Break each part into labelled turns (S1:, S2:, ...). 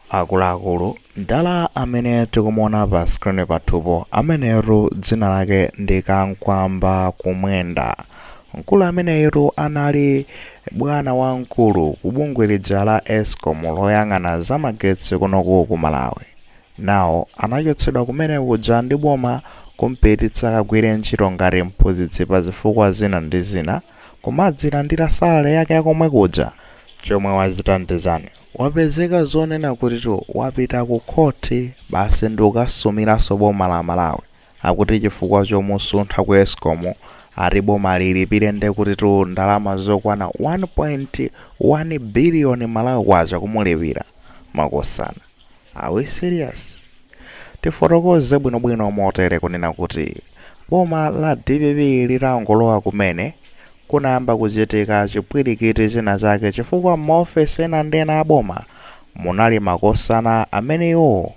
S1: Akuluakulu, mdala amene tikumuona pa screen pathupo ameneyotu dzina lake ndi Kankwamba Kumwenda. Mkulu ameneyitu anali bwana wamkulu ku bungwe lija la Escom loyang'ana za magetsi kunoku ku Malawi. Now anachotsedwa kumene kuja ndi boma kumpititsa akagwire ntchito ngati mphunzitsi pa zifukwa zina ndi zina, kumadzilandira salary yake ya komwe kuja. Chomwe wachita ndi chani? Wapezeka zonena kutitu wapita ku court basi ndikasumiranso boma la Malawi akuti chifukwa chomusuntha ku escom ati boma lilipile ndekutitu ndalama zokwana 1.1 billion Malawi kwacha kumulipila. Makosana. Are we serious? Tifotokoze bwinobwino motere kunena kuti boma la dpp litangolowa kumene, kunayamba kuchitika chipwilikiti china chake chifukwa m'maofesi ena ndi ena a boma munali makosana amene iwowo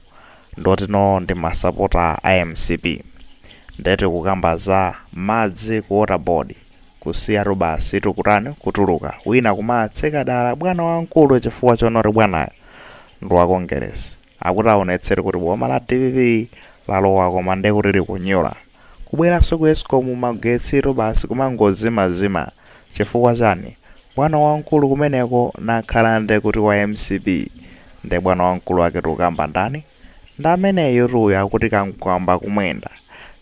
S1: nde kuti no ndi masapota a mcp. Nde tikukamba za madzi ku water board. Kusiyatu basi tikutani kutuluka wina kumatseka dala bwana wamkulu chifukwa chonena kuti bwanayo ndi wa Kongeresi. Akuti aonetsere kuti boma la dpp lalowa koma nde kuti likunyula. Kubweranso ku Escom magetsitu basi kumangozimazima. Chifukwa chani? Bwana wamkulu kumeneko nakhala nde kuti wa mcp. Nde bwana wamkulu ake tikukamba ndani? Ndi ameneyutuyo akuti Kamkwamba Kumwenda.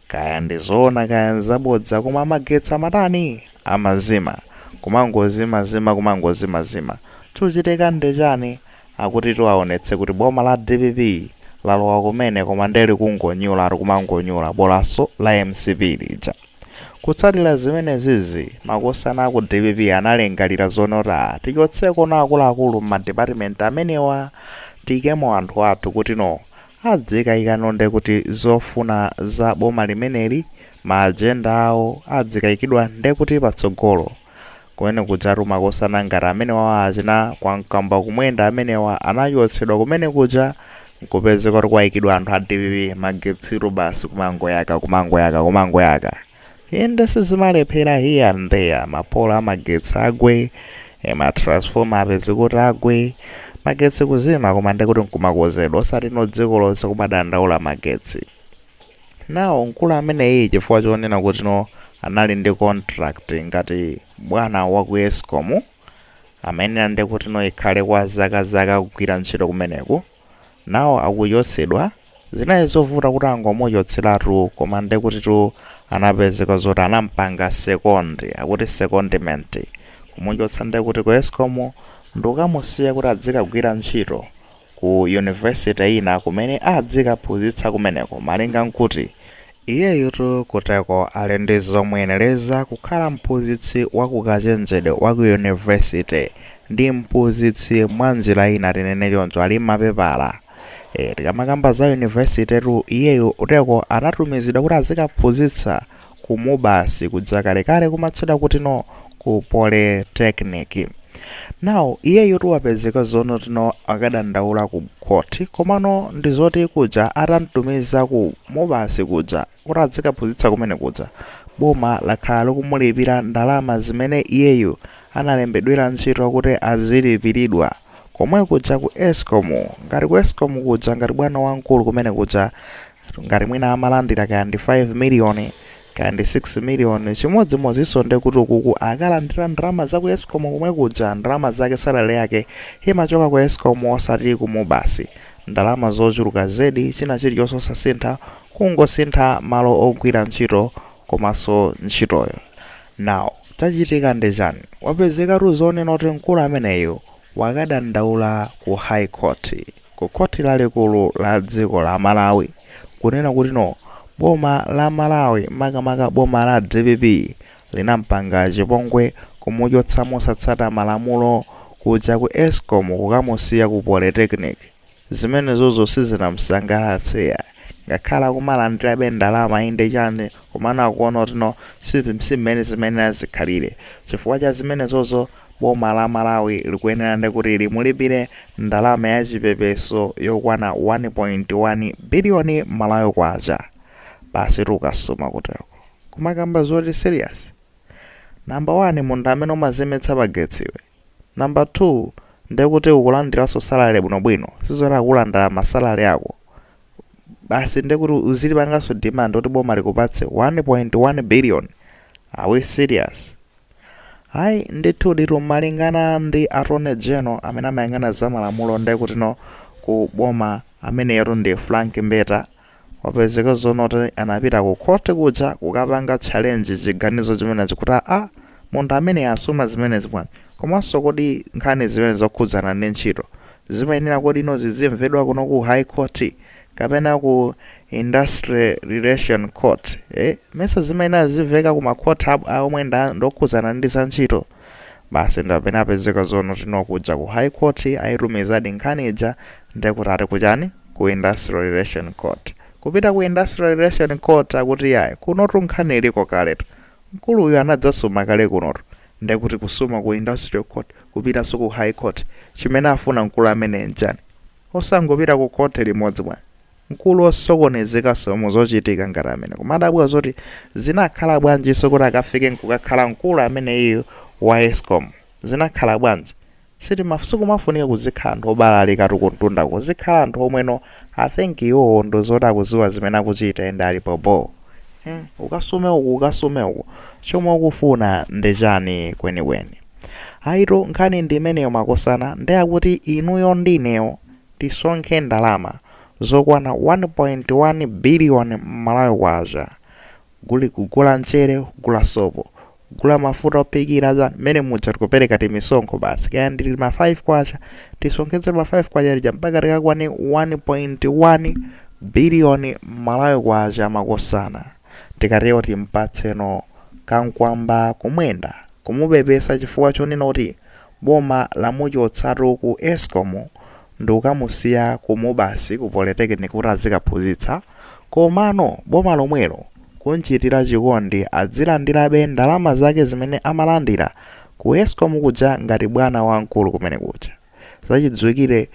S1: Kaya ndi zoona kaya nzabodza koma magetsi amatani? Amazima. Kumangozimazima kumangozimazima. Chikuchitika nde chani? Akutitu aonetse kuti boma la dpp lalowa kumene koma nde likungonyulatu kumangonyula bolaso la mcp lija. Kutsatira zimenezizi, makosana aku dpp analingalira zonena kuti, tichotseko ena akuluakulu m'ma department amenewa tiikemo anthu athu kutino adzikaikano ndekuti zofuna za boma limeneli, ma agenda awo adzikaikidwa ndekuti patsogolo Kumene kujatu makosana ngati amenewawa achina Kamkwamba Kumwenda amenewa anachotsedwa kumene kuja nkupezeka kuti kwaikidwa anthu a dpp magetsitu basi kumangoyaka kumangoyaka kumangoyaka inde sizimalephera here and there mapolo amagetsi agwe eh, matransformer apeze kuti agwe magetsi kuzima koma ndekuti nkumakozedwa osati no dziko lonse kumadandaula magetsi Now mkulu ameneyu chifukwa chonena kuti no anali ndi contract ngati bwana wa ku escom amayenera nde kuti no ikhale kwa zaka zaka akugwira ntchito kumeneku now akuchotsedwa zinali zovuta kuti angomuchotseratu koma nde kuti tu anapezeka zoti anampanga second akuti secondment kumuchotsa nde kuti ku escom ndikukamusiya kuti adzikagwira ntchito ku yunivesite ina kumene adzikaphunzitsa kumeneko malinga nkuti iyeyutu kuteko ali ndi zomuyenereza kukhala mphunzitsi wa kukachenjede wa ku yunivesite ndi mphunzitsi mwanjira ina tinene choncho ali mmapepala ee tikamakamba za yunivesitetu iyeyu uteko anatumizidwa kuti azikaphunzitsa Ku Mubas kuja kalekale kumatchedwa kuti no ku polytechnic. Now iyeyotu wapezeka zonoti no akadandaula ku court komano ndi zoti kuja atamtumiza ku Mubas kuja kuti adzikaphunzitsa kumene kuja boma lakhala likumulipira ndalama zimene iyeyu analembedwera ntchito kuti azilipiridwa komwe kuja ku Escom. Ngati ku Escom kuja ngati bwana wamkulu kumene kuja ngati mwina amalandira kaya ndi 5 million kaya ndi 6 million chimodzimodzinso nde kuti ukuku akulandira ndalama za ku escom komwe kuja ndalama zake salale yake imachoka ku escom osati ku mubas ndalama zochuluka zedi china chilichonse osasintha kungosintha malo ogwira ntchito komanso ntchitoyo now chachitika ndi chani wapezekatu zonena kuti mkulu ameneyu wakadandaula ku high court ku khoti lalikulu la dziko la Malawi kunena kuti no boma la Malawi makamaka boma la dpp linampanga chipongwe kumuchotsa mosatsata malamulo kuja ku escom kukamusiya ku polytechnic. Zimenezozo sizinamsangalatse yayi ngakhale kumalandirabe ndalama inde chani komano akuona kuti no si mmene zimayenera zikhalire. Chifukwa cha zimenezozo boma la Malawi likuyenera ndekuti limulipire ndalama ya chipepeso yokwana 1.1 billion Malawi kwacha. basitu ukasuma kuteko kumakamba zoti serious? number 1 munthu amene umazimitsa magetsi iwe number 2 ndekuti ukulandiranso salary bwinobwino sizoti akulanda ma salary ako basi ndekuti uzilipanganso demand kuti boma likupatse 1.1 billion are we serious? hayi ndithu ndithu malingana ndi attorney general amene amayang'ana za malamulo ndekuti no ku boma ameneyotu ndi frank mbeta wapezeka zonoti anapita ku khoti kuja kukapanga challenge chiganizo chimenechi kuti a munthu amene asuma zimenezi bwanji komanso kodi nkhani zimene zokhudzana ndi ntchito zimayenera kodi ino zizimvedwa kuno ku high court kapena ku industrial relation court eh? mesa zimayenera ziziveka ku ma court ab- a omwe nda- ndokhudzana ndi za ntchito basi ndapena apezeka zonoti no kuja ku high court ayitumizadi nkhani ija ndekuti ati kuchani ku industrial relation court kupita ku industrial relation court akuti yayi kunotu nkhani iliko kaletu mkulu uyu anadzasuma kale kunotu ndekuti kusuma ku industrial court kupitanso ku high court chimene afuna mkulu amene nchani Osangopita ku khoti limodzi bwana? Mkulu osokonezekanso mu zochitika ngati amene kumadabwa zoti zinakhala bwanjinso kuti akafike nkukakhala mkulu ameneyiyu wa Escom? Zinakhala bwanji? Sitima sikumafunika kuzikhala anthu obalalikatu kumtunda kuzikhala anthu omweno I think iwowo ndi zoti akuziwa zimene akuchita ende ali bho bho hmm ukasume uku ukasume uku chomwe ukufuna ndi chani kwenikweni? Ayitu nkhani ndi imeneyo makosana nde akuti inuyo ndi inewo tisonkhe ndalama zokwana 1.1 billion Malawi kwacha kugula mchere, kugula sopo, kugula mafuta ophikira chani mmene muja tikupereka timisonkho basi kaya ndi tima 5 kwacha tisonkhetse tima 5 kwacha tija mpaka tikakwane 1.1 billion Malawi kwacha makosana. Tikatero timpatseno Kamkwamba Kumwenda kumupepesa chifukwa chonena kuti boma lamuchotsatu ku escom ndikukamusiya ku MUBAS ku polytechnic kuti azikaphunzitsa komano boma lomwelo kunchitira chikondi adzilandirabe ndalama zake zimene amalandira ku escom kuja ngati bwana wamkulu kumene kuja. Zachidziwikire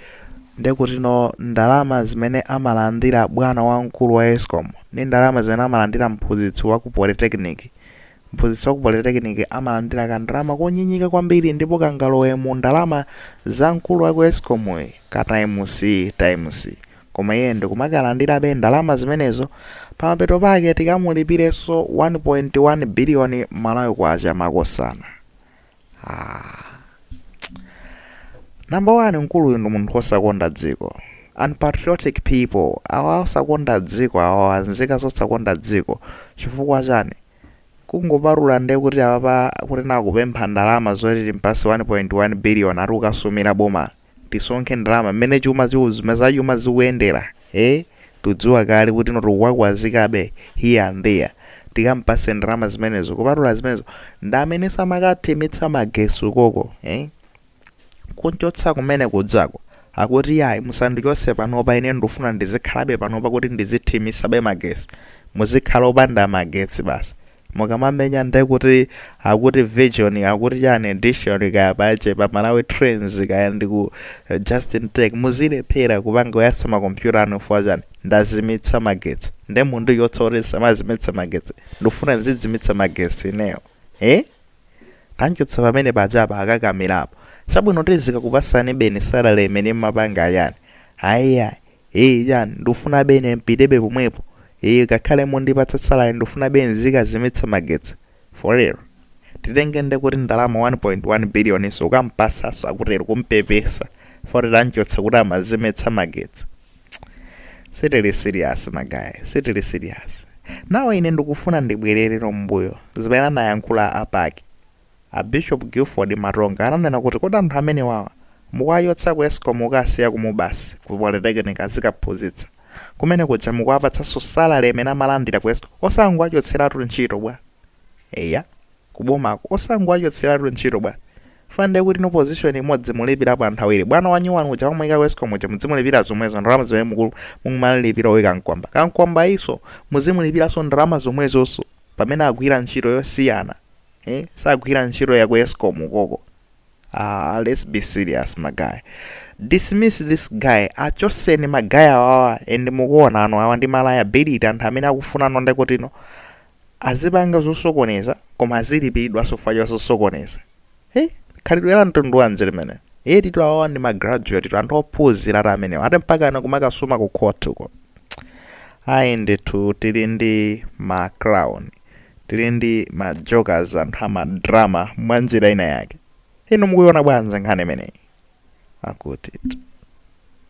S1: ndi kuti no ndalama zimene amalandira bwana wamkulu wa Escom ndi ndalama zimene amalandira mphunzitsi wa ku polytechnic, mphunzitsi wa ku polytechnic amalandira kandalama konyenyeka kwambiri ndipo kangalowe mu ndalama za mkulu wa ku Escom'yi ka times times koma iye ndikumakalandirabe ndalama zimenezo, pamapeto pake tikamulipirenso 1.1 billion Malawi Kwacha makosana. Number one mkuluyu ndi munthu wosakonda dziko. Unpatriotic people awa osakonda dziko awa anzika zosakonda dziko chifukwa chani? Kungopatula nde kuti apapa kuti no akupempha ndalama zoti timpase 1.1 billion ati ukasumira boma tisonkhe ndalama mmene chuma zikuzi zachuma zikuyendera ee tudziwa kale kuti no tukuwakwazikabe here and there tikampase ndalama zimenezo kupatula zimenezo ndameneso amakathimitsa magesi ukoko ee kunchotsa kumene kudzako akuti yayi musandichose panopa ine ndufuna ndizikhalabe panopa kuti ndizithimisabe magesi muzikhala opanda magetsi basi mukamamenya nde kuti akuti vision akuti chani edition kaya pache pa Malawi Trends kaya ndiku Justin Tech muzilephera kupanga kuyatsa makompyuta anu chifukwa chani ndazimitsa magetsi nde mundichotsa kuti ndisamazimitse magetsi ndikufuna ndizidzimitsa magetsi ineyo eh? tanchotsa pamene pachapa akakamirapo chabwino tizikakupasanibe ni salary imene mmapanga chani ayiyayi Eee chani ndufunabe ine mpitebe pomwepo ee kakhale mundipatsa salary ndufunabe nzikazimitsa magetsi for real titenge ndiye kuti ndalama 1.1 billion so ukampatsanso akutero kumpepesa poti tamchotsa kuti amazimitsa magetsi sitili serious ma guy sitili serious nawo ine ndikufuna ndibwerere mmbuyo zimene anayankhula apa a Bishop Gilford Matonga ananena kuti kodi anthu amenewawa mukuwachotsa ku escom kukawasiya ku Mubas ku polytechnic azikaphunzitsa kumene kuja mukuwapatsanso salary imene amalandira ku escom osangowachotseratu ntchito bwa? Eya ku bomako osangowachotseratu ntchito bwa? Chifukwa ndiye kuti inu position imodzi mulipirapo anthu awiri. Bwana wanyuwani uja mwamuika ku escom uja mudzimulipira zomwezo ndalama zimene muku mukumalipira uyu Kamkwamba. Kamkwambayunso muzimulipiranso ndalama zomwezonso pamene agwira ntchito yosiyana. eh sagwira ntchito yaku escom ukoko aah let's be serious ma guy dismiss this guy achotseni ma guy awawa and mukuona ano awa ndi ma liability anthu amene akufuna inuyo ndiye kutino azipanga zosokoneza koma azilipidwa chifukwa cha zosokoneza hey khalidwe la mtundu wanji limeneli etitu awawa ndi ma graduate tu anthu ophunzira ati amenewa ati mpaka ana kumakasuma ku court uko ayi ndithu tili ndi ma clown Tili ndi ma jokers anthu ama drama mwanjira ina yake. Inu mukuiona bwanji nkhani imeneyi? Akutit.